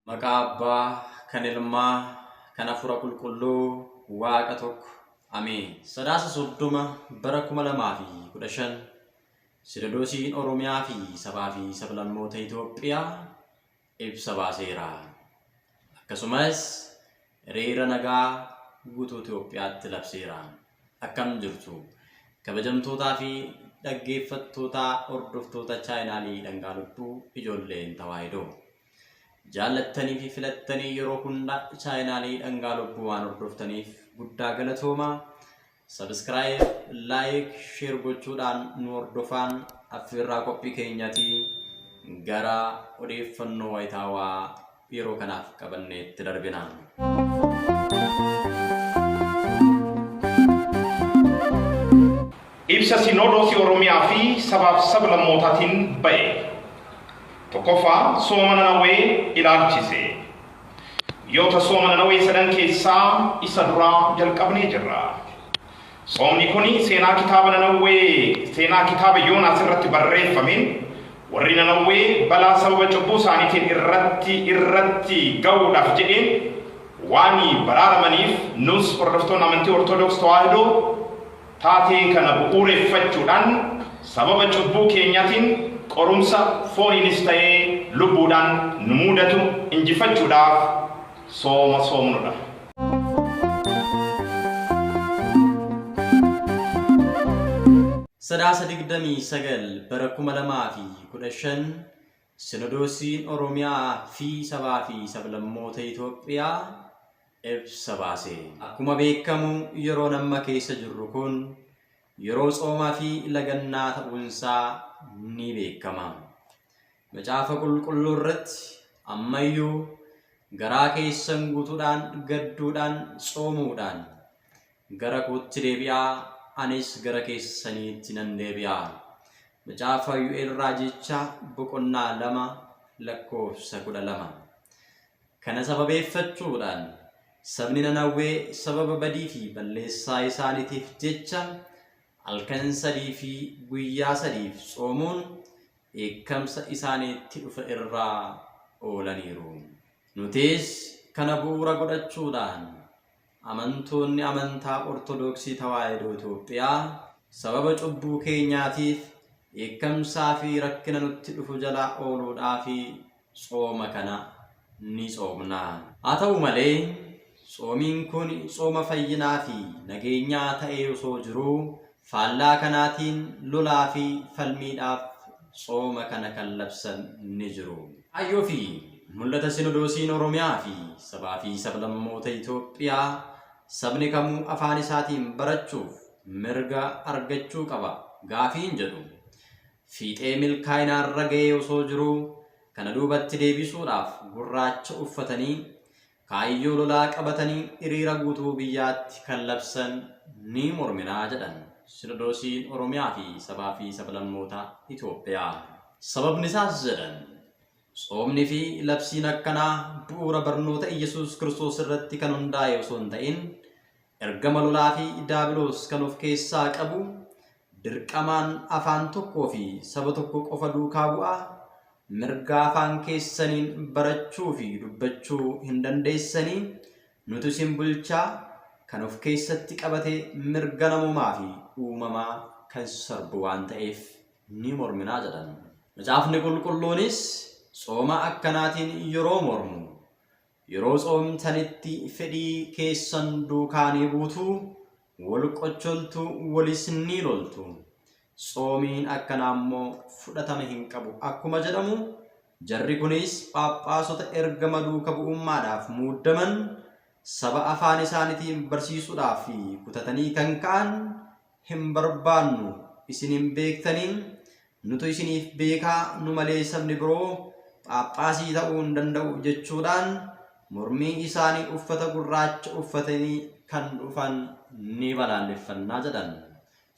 Maqaa Abbaa, kan Ilmaa, kan Hafuura Qulqulluu, Waaqa tokko. Ameen. Sadaasa 30 bara 2015 Sinodoosiin Oromiyaa fi Sabaa fi Sablammoota Itoophiyaa ibsa baaseera. Akkasumas hiriira nagaa guutuu Itoophiyaatti labseera. Akkam jirtu? Kabajamtootaa fi dhaggeeffattootaa hordoftoota chaayinaalii Dhangaa Lubbuu Ijoolleen Tawaahidoo. Jaallattanii fi filattanii yeroo hunda chaayinaalii dhangaa lubbuu waan hordoftaniif guddaa galatoomaa. Sabiskiraayib, laayik, sheer gochuudhaan nu hordofaan affeerraa qophii keenyati gara odeeffannoo wayitaawaa yeroo kanaaf qabanneetti darbina. Ibsa Sinoodoosii Oromiyaa fi Sabaaf Sablammootaatiin ba'e. 1ffaa Sooma Nanawwee ilaalchise. Guyyoota Sooma Nanawwee sadan keessaa isa duraa jalqabnee jirra. Soomni kun seenaa kitaaba Nanawwee seenaa kitaaba Yoonaas irratti barreeffameen warri Nanawwee balaa sababa cubbuu isaaniitiin irratti irratti ga'uudhaaf jedheen waan baraaramaniif nus hordoftoonni amantii Ortodoks Tawaahidoo Taatee kana bu'uureffachuudhaan sababa cubbuu keenyaatiin qorumsa fooniinis ta'ee lubbuudhaan nu muudatu injifachuudhaaf sooma soomnu dha. Sadaasa 29 bara 2015 Sinodoosiin Oromiyaa fi Sabaa fi Sablammoota Itoophiyaa ibsa baase. Akkuma beekamu yeroon amma keessa jirru kun yeroo tsoomaa fi lagannaa ta'uun isaa ni beekama. Macaafa Qulqulluu irratti amma iyyuu garaa keessan guutuudhaan gadduudhaan tsoomuudhaan Gara kootti deebi'aa, anis gara keessaniitti nan deebi'a. Macaafa Yu'el Raajichaa boqonnaa 2 lakkoofsa 12. Kana sababeeffachuudhaan sabni Nanawwee sababa badii fi balleessaa isaaniitiif jecha halkan sadii fi guyyaa sadiif tsoomuun dheekkamsa isaaniitti dhufe irraa oolaniiru. Nutis kana bu'uura godhachuudhaan Amantoonni Amantaa Ortodoksii Tawaahidoo Itoophiyaa sababa cubbuu keenyaatiif dheekkamsaa fi rakkina nutti dhufu jalaa ooluudhaaf tsooma kana ni tsoomna. Haa ta'u malee, tsoomiin kun tsooma fayyinaa fi nageenyaa ta'ee osoo jiruu Faallaa kanaatiin lolaa fi falmiidhaaf tsooma kana kan labsan ni jiru. Kaayyoo fi mul'ata Sinodoosiin Oromiyaa fi Sabaa fi Sablammoota Itoophiyaa Sabni kamuu afaan isaatiin barachuuf mirga argachuu qaba gaafiin jedhu fiixee milkaa'inaa irra ga'ee osoo jiruu kana duubatti deebisuudhaaf gurraacha uffatanii Kaayyoo lolaa qabatanii hiriira guutuu biyyaatti kan labsan ni mormina jedhan Sinodoosiin Oromiyaa fi Sabaa fi Sablammoota Itoophiyaa. Sababnisaas jedhan, tsoomni fi labsiin akkanaa bu'uura barnoota Iyyasuus Kiristoos irratti kan hundaa'e osoo hin ta'in, Ergama lolaa fi daabiloos kan of keessaa qabu, dirqamaan afaan tokkoo fi saba tokko qofa duukaa bu'aa, mirga afaan keessaniin barachuu fi dubbachuu hin dandeessanii, nutu isin bulchaa, kan of keessatti qabate mirga namoomaa fi uumamaa kan sarbu waan ta'eef ni mormina jedhan. Macaafni Qulqulluunis tsooma akkanaatiin yeroo mormu, Yeroo tsoomtanitti fedhii keessan duukaa ni buutu, wal qocholtu, walis ni loltu. Tsoomiin akkanaa immoo fudhatama hin qabu akkuma jedhamu, jarri kunis phaaphaasota ergama duuka bu'ummaadhaaf muuddaman, saba afaan isaanitiin barsiisuudhaaf kutatanii kan ka'an, hin barbaannu, isin hin beektanii, Nutu isiniif beeka, nu malee sabni biroo phaaphaasii ta'uu hin danda'u jechuudhaan mormii isaanii uffata gurraacha uffatanii kan dhufan ni balaaleffanna jedhan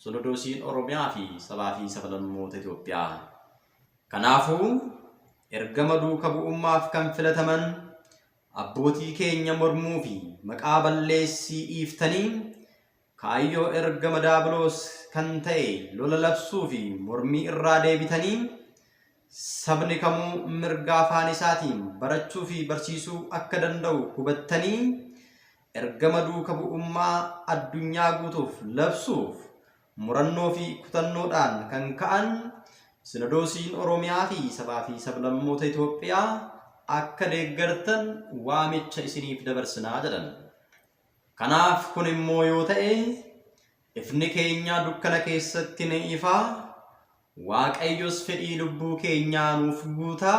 Sinodoosiin Oromiyaa fi Sabaa fi Sablammoota Itoophiyaa. Kanaafuu, ergama duuka bu'ummaaf kan filataman abbootii keenya mormuu fi maqaa balleessii dhiiftanii Kaayyoo ergama daabiloos kan ta'e lola labsuu fi mormii irraa deebitanii sabni kamuu mirga afaan isaatiin barachuu fi barsiisuu akka danda'u hubattanii ergama duuka bu'ummaa addunyaa guutuuf labsuuf murannoo fi kutannoodhaan kan ka'an Sinodoosiin Oromiyaa fi Sabaa fi Sablammoota Itoophiyaa akka deeggartan waamicha isiniif dabarsina jedhan. Kanaaf kun immoo yoo ta'e, ifni keenya dukkana keessatti ni ifa, Waaqayyos fedhii lubbuu keenyaa nuuf guuta,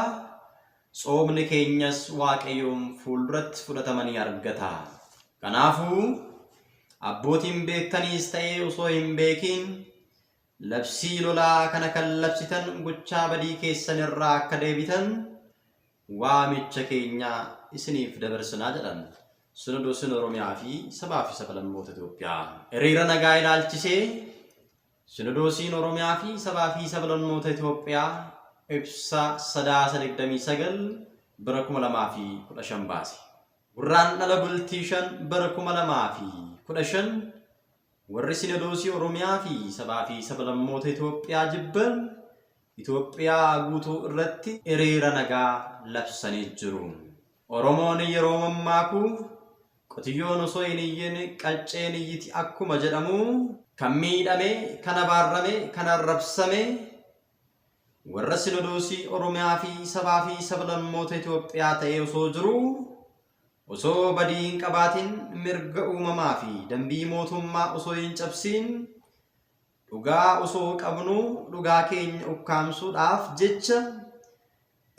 tsoomni keenyas Waaqayyoon fuulduratti fudhatama ni argata. Kanaafuu, abbootiin beektaniis ta'ee osoo hin beekiin, labsii lolaa kana kan labsitan gochaa badii keessan irraa akka deebitan waamicha keenya isiniif dabarsinaa jedhan Sinodoosiin Oromiyaa fi Sabaa fi Sablammoota Itoophiyaa. Hiriira nagaa ilaalchisee Sinodoosiin Oromiyaa fi Sabaa fi Sablammoota Itoophiyaa ibsa Sadaasa 29 bara 2015 baase. Gurraandhala bultii 5 bara 2015 warri Sinodoosii Oromiyaa fi Sabaa fi Sablammoota Itoophiyaa jibban Itoophiyaa guutuu irratti hiriira nagaa labsanii jiru. Oromoon yeroo mammaaku qotiyyoon osoo hin iyyin qacceen iyyiti akkuma jedhamu kan miidhame, kan abaarrame, kan arrabsame warra sinodoosii Oromiyaa fi sabaa fi sablammoota Itoophiyaa ta'ee osoo jiru osoo badii hin qabaatin mirga uumamaa fi dambii mootummaa osoo hin cabsiin Dhugaa osoo qabnuu dhugaa keenya ukkaamsuudhaaf jecha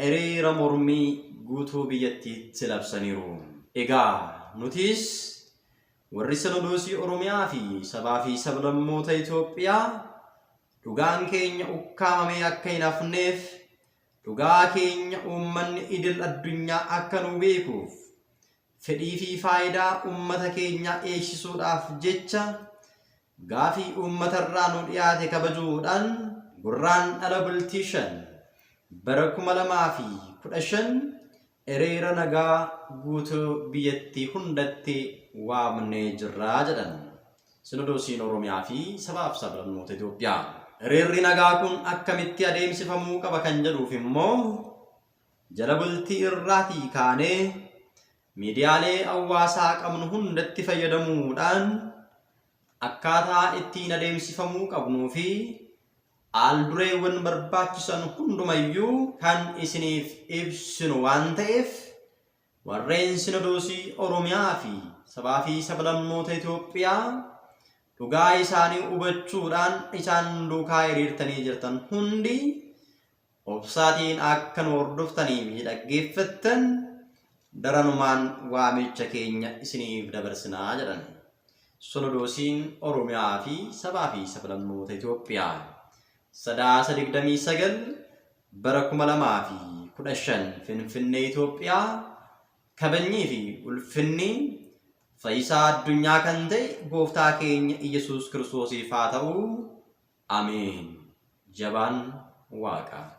hiriira mormii guutuu biyyattiitti labsaniiru. Egaa nutiis warri Sinodoosii Oromiyaa fi Sabaa fi Sablammoota Itoophiyaa dhugaan keenya ukkaamamee akka hin hafneef dhugaa keenya uummanni idil addunyaa akka nuu beekuuf Fedhii fi faayidaa uummata keenyaa eegsisuudhaaf jecha gaafii uummata irraa nu dhiyaate kabajuu dhaan Gurraandhala Bultii 5 bara 2015 Hiriira nagaa guutuu biyyattii hundatti waamnee jirra jedhan Sinodoosiin Oromiyaa fi Sabaa fi Sablammoota Itoophiyaa. Hiriirri nagaa kun akkamitti adeemsifamuu qaba kan jedhuuf immoo. Jala bultii irraatii kaanee miidiyaalee hawwaasaa qabnu hundatti fayyadamuu dhaan akkaataa ittiin adeemsifamuu qabnuu fi aal dureewwan barbaachisan hunduma iyyuu kan isiniif ibsinu waan ta'eef warreen Sinodoosii Oromiyaa fi Sabaa fi Sablammoota Itoophiyaa dhugaa isaanii hubachuu dhaan isaan duukaa hiriirtanii jirtan hundi Obsaatiin akka nu hordoftanii fi dhaggeeffattan daranumaan waamicha keenya isiniif dabarsina jedhan Sinodoosiin Oromiyaa fi Sabaa fi Sablammoota Itoophiyaa Sadaasa 29 bara 2015 Finfinnee Itoophiyaa Kabajnii fi ulfinni Fayyisaa addunyaa kan ta'e Gooftaa keenya Iyyasuus Kiristoosiif haa ta'u! Ameen jabaan waaqa.